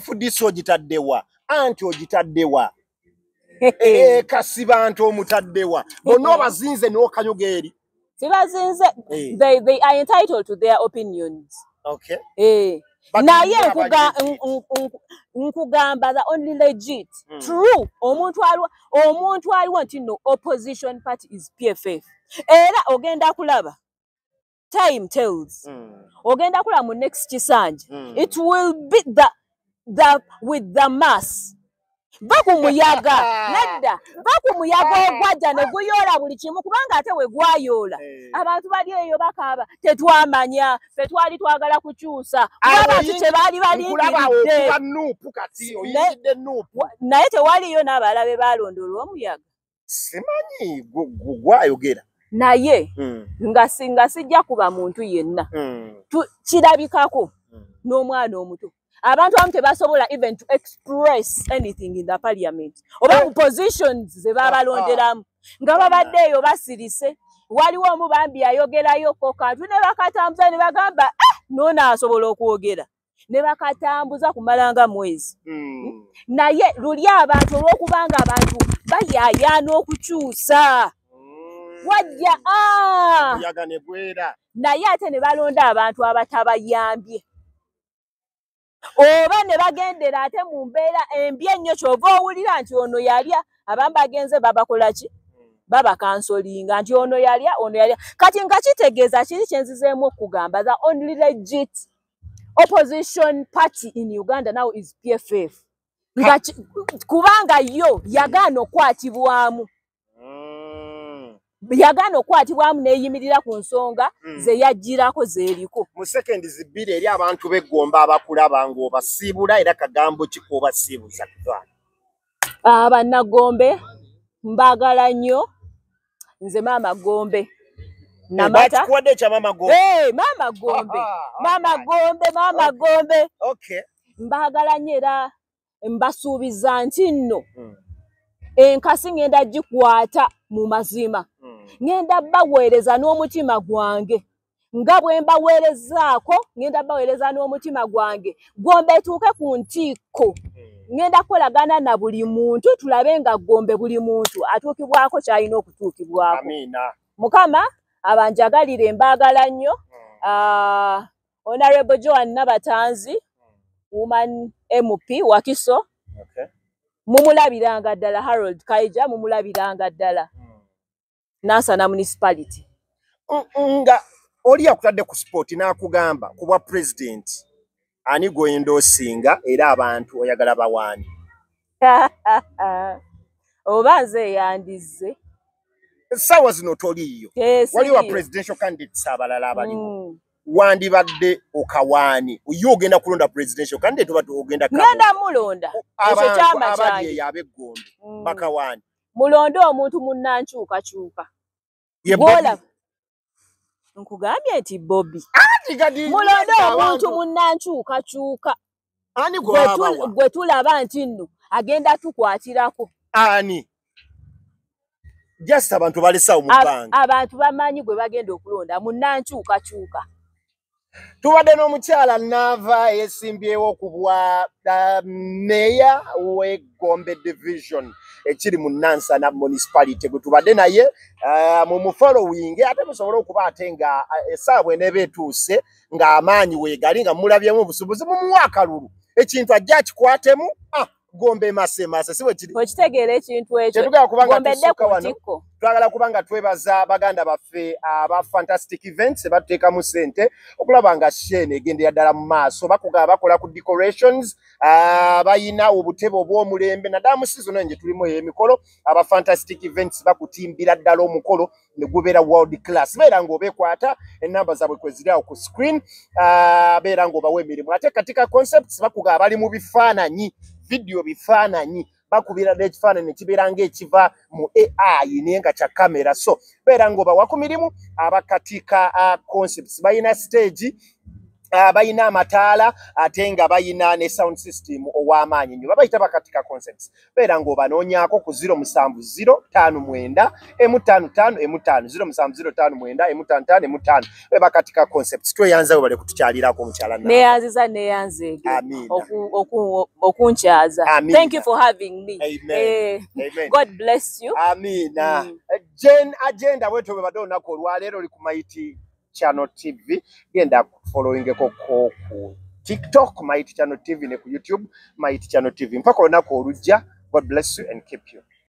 Speaker 1: fdc ogitaddewa anti ogitaddewa eh, kasibanti omutaddewa bona obazinze nokanyuga eri sibazinze
Speaker 2: eh. they, they are entitled to their opinions okay.
Speaker 1: eh.
Speaker 2: naye nkugamba the only legit mm. true omuntu aliwo omuntu aliwo nti no opposition party is pff era ogenda kulaba time tells mm. ogenda kula mu next kisanja mm. it will be the, the with the mass va ku muyaga nadda va ku muyaga ogwajja ne guyoola buli kimu kubanga ate we gwayoola eh. abantu bali eyo bakaaba tetwamanya fe twali twagala kukyusa abantu kye baali balindiridde
Speaker 1: naye tewaliyo
Speaker 2: n'abalala be baalondoola omuyaga simanyi
Speaker 1: gwayogera naye
Speaker 2: mm. nga singa sijja kuba muntu yenna mm. kirabikako mm. n'omwana omuto abantu abamu tebasobola even to express anything in the parliament oba eh. mu positions ze babalonderamu ah. nga babadde eyo basirise waliwo omu bambi ayogerayo ko kantu ne bakatambuza ne bagamba eh, noona asobola okwogera ne bakatambuza kumalanga mwezi mm. naye luli abantu olwokubanga abantu bayayaana okukyusa mm. wajja ah! naye ate ne balonda abantu abatabayambye oba ne bagendera ate mu mbeera embi ennyo kyova owulira nti ono yalya abamu bagenze babakola ki babakansolinga nti ono yalya ono yalya kati nga kitegeeza kiri kyenzizeemu okugamba the only legit opposition party in uganda now is pff nga kubanga yo yagaana okwatibwamu mm. yagaana okwatibwamu neyimirira ku nsonga mm. zeyajjirako zeeriko mu sekendi zibbiri
Speaker 1: eri abantu begomba abakulaba ngaobasiibula era kagambo kikuobasiibuza ah, banagombe
Speaker 2: mbagala nnyo nze maama gombe namatakikuwadde ekya maama
Speaker 1: gombe hey, maama gombe maama
Speaker 2: gombe maama gombe okay.
Speaker 1: mbagala nnyo
Speaker 2: era mbasuubiza nti nno hmm. enkasi ngenda gikwata mu mazima hmm. ngenda baweereza n'omutima gwange nga bwe mbaweerezaako ŋŋenda baweereza n'omutima gwange gombe etuuke ku ntiikko hmm. ŋŋenda kukolagana na buli muntu tulabe nga gombe buli muntu atuukibwako ky'alina okutuukibwako
Speaker 1: mukama
Speaker 2: abanjagalire mbaagala nnyo hmm. ah, honorable joan nabatanzi hmm. woman mp wakiso
Speaker 1: mumulabiranga
Speaker 2: ddala harold kaija mumulabiranga ddala Nansana municipality. Nga
Speaker 1: oli akutadde ku sport n'akugamba ku bwa president ani gw'oyinda osinga era abantu oyagala bawaani.
Speaker 2: Oba nze eyandizze. Essaawa
Speaker 1: zino toliiyo. Eh, Wali wa presidential candidates abalala abaliwo. Mm. wandibadde okawaani ye ogenda kulonda presidential kandi tubadde ogenda ngenda mulonda
Speaker 2: ekyo kyama kyange abali abegombe
Speaker 1: mm. bakawaani mulonde omuntu
Speaker 2: munnankyukakyuka gwolaba nkugambye nti bobi mulonde omuntu munnankyukakyuka
Speaker 1: gwe
Speaker 2: tulaba nti nno agenda tukwatirako ani
Speaker 1: just abantu balesawo mubanga abantu bamanyi gwe
Speaker 2: bagenda okulonda munnankyukakyuka
Speaker 1: tubadde n'omukyala naava eyesimbyewo ku bwa uh, meeya w'egombe division ekiri mu nansana municipality gwe tubadde naye uh, mu mufollowing ate musobole okuba ate nga uh, esaawa bweneeba etuuse ng'amaanyi weegali nga mulabyemu obusubuzi mumuwa akalulu ekintu ajja akikwatemu ah. gombe mase mase siwe kiri okitegeera ekintu ekyo
Speaker 2: tetugala kuba nga tusuka
Speaker 1: wano
Speaker 2: twagala kuba nga
Speaker 1: twebaza baganda baffe aba fantastic events batuteekamu sente okulaba nga sheen egendera ddala mu maaso bakuga bakola ku decorations ah, bayina obutebe obw'omulembe naddala mu sizono nje tulimu ey'emikolo aba fantastic events bakutimbira ddala omukolo ne gubeera world class beera ng'obekwata ennamba zaabwe kwe ziri awo ku screen ah, beera ng'obawa emirimu ate katika concepts bakuga abali mu bifaananyi vidiyo bifaananyi bakubira n'ekifaananyi kibeera ng'ekiva mu ai naye nga kya kamera so beera ng'obawa ku mirimu abakatika ah, concepts balina stage ah, balina amataala ate nga balina ne sound system ow'amaanyi nyo babayita bakatika concepts beera ng'obanoonyaako ku 0705 emu ttaano ttaano emu ttaano 0705 emu ttaano ttaano emu ttaano bebakatika concepts tweyanza we bale kutukyalirako omukyala neyanziza neyanzeege
Speaker 2: okunkyaza thank you for having me Amen. Eh, Amen.
Speaker 1: god bless you
Speaker 2: amiina mm.
Speaker 1: jen agenda bwetyo bwebadde olunaku olwaleero oli ku maiti channel tv genda followingeko ko ku tiktok mighty channel tv ne ku youtube mighty channel tv mpaka olunaku olujja god bless you and keep you